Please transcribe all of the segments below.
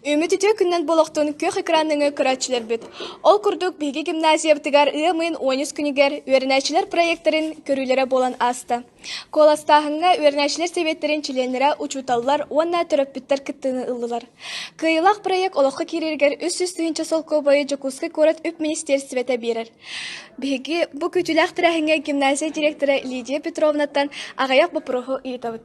Үмүт үтүө күннэн болохтун күөх экраныҥы көрөөччүлэрбит. Ол курдук биһиги гимназиябытыгар ыамыын уоньус күнүгэр үөрэнээччилэр проекттарын көрүүлэрэ буолан ааста. Куоластааһыҥҥа үөрэнээччилэр сэбиэттэрин чилиэннэрэ учууталлар уонна төрөппүттэр кыттыыны ыллылар. Кыайылаах проект олоххо киирэригэр үс сүүс тыһыынча солкуобайы Дьокуускай куорат үп министиэрстибэтэ биэрэр. Биһиги бу күтүлээх тэрээһиҥҥэ гимназия дириэктэрэ Лидия Петровнаттан аҕыйах боппуруоһу ыытабыт.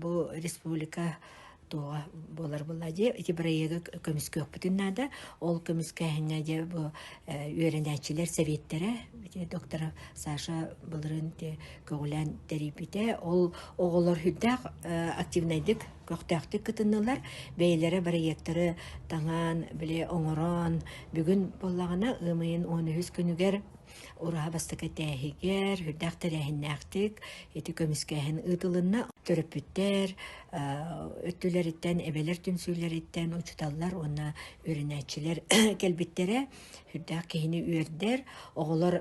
бу республика туоҕа буолар була дии ити бырайыагы көмүскүөхпүтүн наада ол көмүскээһиҥҥэ дьэ бу үөрэнээччилэр сэбиэттэрэ доктора Саша былырын көҕүлээн тэрийбитэ ол оҕолор хүндээх активнайдык көхтөөхтүк кытыннылар бэйэлэрэ бырайыактары таҥаан бile оҥорон бүгүн буоллаҕына ымыйын он үһүс күнүгэр Ураа бастакы этээһигэр үрдээх тэрээһиннээхтик ити көмүскээһин ыытылынна. Төрөппүттэр өттүлэриттэн, эбэлэр түмсүүлэриттэн учууталлар уонна үөрэнээччилэр кэлбиттэрэ. Үрдээх киһини үөрдэр, оҕолор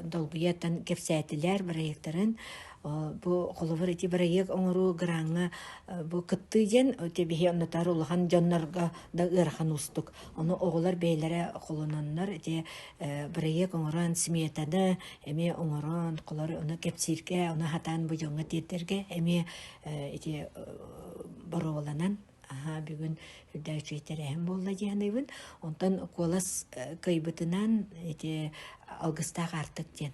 долгуйаттан кэпсээтилэр бырайыактарын. Бу холобур ити бырайыак оҥоруу граҥҥа бу кыттыы диэн биһи оннотоор улахан дьоннорго да ыарахан уустук. Ону оҕолор бэйэлэрэ холононнор ити э, бырайыак оҥорон, сметаны эмиэ оҥорон, холор ону кэпсииргэ, ону хатаан быйоҥҥа тиэрдэргэ эмиэ э, ити э, боруобаланан аха бүгүн үрдээччи тэрээһин буолла диэхинэйбин. Онтон куолас кыйбытынан ити алгыстаах аартык диэн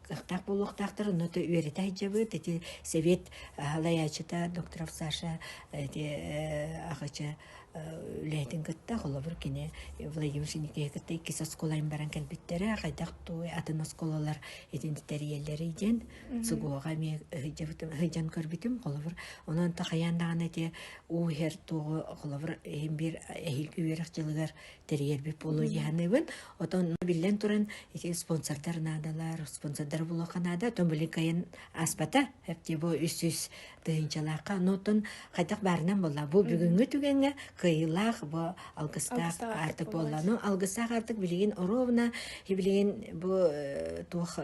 кыахтаах буолуохтаахтар онно то үөрэтэ сылдьабыт ити сэбиэт салайааччыта докторов Саша ити ахыча үлэһитин кытта холобур кини Владимир Синикиһи кытта иккис оскуолайын баран кэлбиттэрэ хайдах туой атын оскуолалар итин тэрийэллэрий диэн сугуоҕа эмиэ сылдьан көрбүтүм холобур онон такайаан даҕаны ити уу иһэр туоҕу холобур иһин биир эһиилги үөрэх дьылыгар тэрийэрбит буолуо дьаһаныыбын отон биллэн туран ити спонсордар наадалар спонсордар булуоха наада отон билин кайын аспата эптибо үс үс тыһынчалаахха ну оттон хайдах баарынан болла бу бүгүнгү түгэҥҥэ кыйылаах бу алгыстаах артык болла ну алгыстаах артык билигин оровна билигин бу туох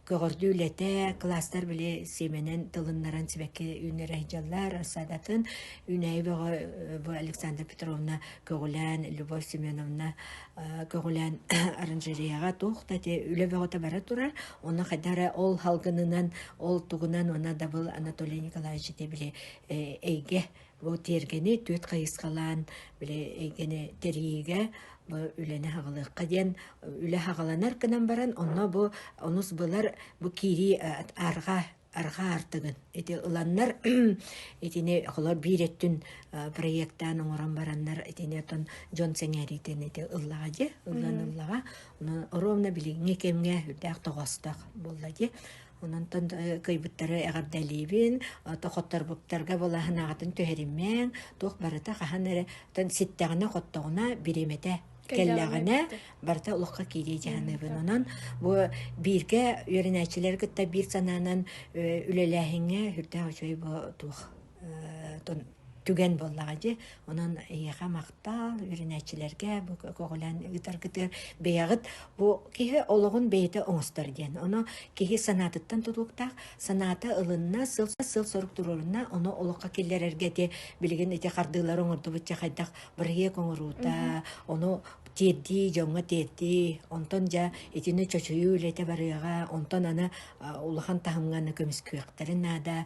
Көҕөрдүү үлэтэ, кылаастар били сиэмэнэн тылыннаран сибэкки үүннэрэ сылдьаллар. Саадатын үүнээйи бөҕө бу Александра Петровна көҕүлээн, Любовь Семеновна көҕүлээн оранжереяҕа туох да те үлэ бөҕөтө бара турар. Онно хайдах эрэ ол салгынынан, ол тугунан уонна дабыл Анатолий Николаевич те били эйгэ Бу тиэргэни түөрт хайысхалаан били эйгэни тэрийиигэ үлэни аҕалыахха диэн үлэ аҕаланар гынан баран онно бу онус былар бу киирии арҕаа арҕаа артыгын ити ыланнар итини холор биир өттүн проектаан оҥорон бараннар итини отон дьон сэҥээриитин ити ыллаҕа дии ыллан ыллаҕа оруомна билиҥҥи кэмҥэ үрдээх тоҕостоох буолла дии Онон кыйбыттары эҕэрдэлиибин, тоқотторбуттарга былаһынааҕытын түһэриммэҥ, туох барыта хаһан эрэ ситтэҕинэ-хоттоҕуна бириэмэтэ кэллэҕинэ барыта олоххо киирии дьаһаныыбын. Онон бу бииргэ үөрэнээччилэри кытта биир санаанан үлэлээһиҥҥэ үрдээх үчүгэй туох түгэн буоллаҕа дии. Онон эйиэхэ махтал үөрэнээччилэргэ бу көҕүлээн ыытаргытыгар бэйэҕит бу киһи олоҕун бэйэтэ оҥостор диэн. Ону киһи санаатыттан тутуктаах, санаата ылынна, сыл сорук туруорунна, ону олоххо киллэрэргэ дии билигин ити хардыылары оҥордубутча хайдах бырайыак оҥоруута, ону тиэрдии, дьоҥҥо тиэрдии, онтон дьэ итини чочуйуу үлэтэ барыаҕа, онтон аны улахан таһымҥа көмүскүөхтэрин наада,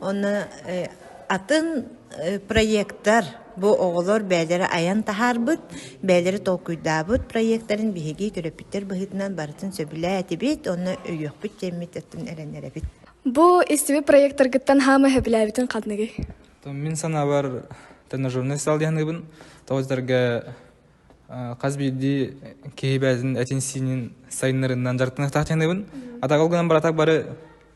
Онно атын проектар бу оҕолор бэйэлэрэ айан таһаарбыт, бэйэлэрэ толкуйдаабыт проектарын биһиги төрөппүттэр быһыытынан барытын сөбүлээтибит, онно өйүөхпүт диэммит оттон эрэнэрэбит. Бу истиби проектаргыттан хаама сөбүлээбитин ханныгый? Мин санаабар тренажерный зал диһаныыбын тоҕойдарга хас биирдии киһи бэйэтин этин сиинин сайыннарыннан дьарыктаныахтаах диһаныыбын атаҕал гынан баратак бары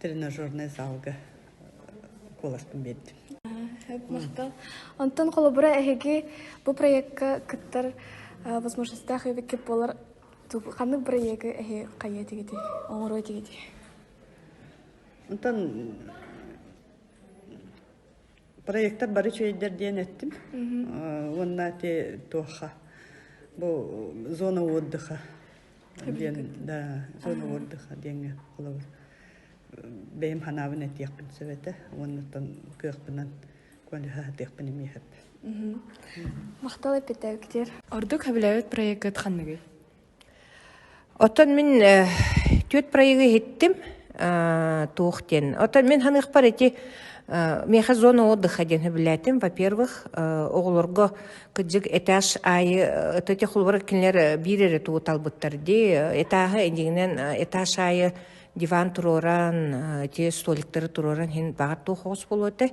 тренажернай залга куоласпын биэрдим махтал онтон холобура эһиги бу проекка кыттар возможностаах эбиккит буолар ханнык проегы эһи хайыа тигити оҥоруо тигити онтон проектор бары үчүгэйдэр диэн эттим уонна те туоха бу зона отдыха диэн да зона отдыха диэҥҥэ холобур бэйим ханаабын этиэхпин сөбөтө уоннаттан кыахпынан көлүһэ атыахпын имиэхэп махтал эппитэ виктор ордук сөбүлээбит проеккыт ханныгый Оттон мин э, түөрт проегы иһиттим э, туох диэн. Оттон мин ханыахпар ити э, миэхэ зона отдыха диэн сөбүлээтим. Во-первых, э, оҕолорго кыдьык этаж аайы э, ытыти холборор кинилэр э, биир эрэ туоталбыттар дии. Этааһы эдигинэн э, этаж аайы диван туруоран, э, ити столиктары туруоран иһин баҕар туох оҕус болуотай.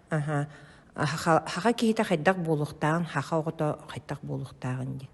Аһа, аха хаха киһитэ хайдах буолуохтаҕын, хаха оҕото хайдах буолуохтааҕын диэн.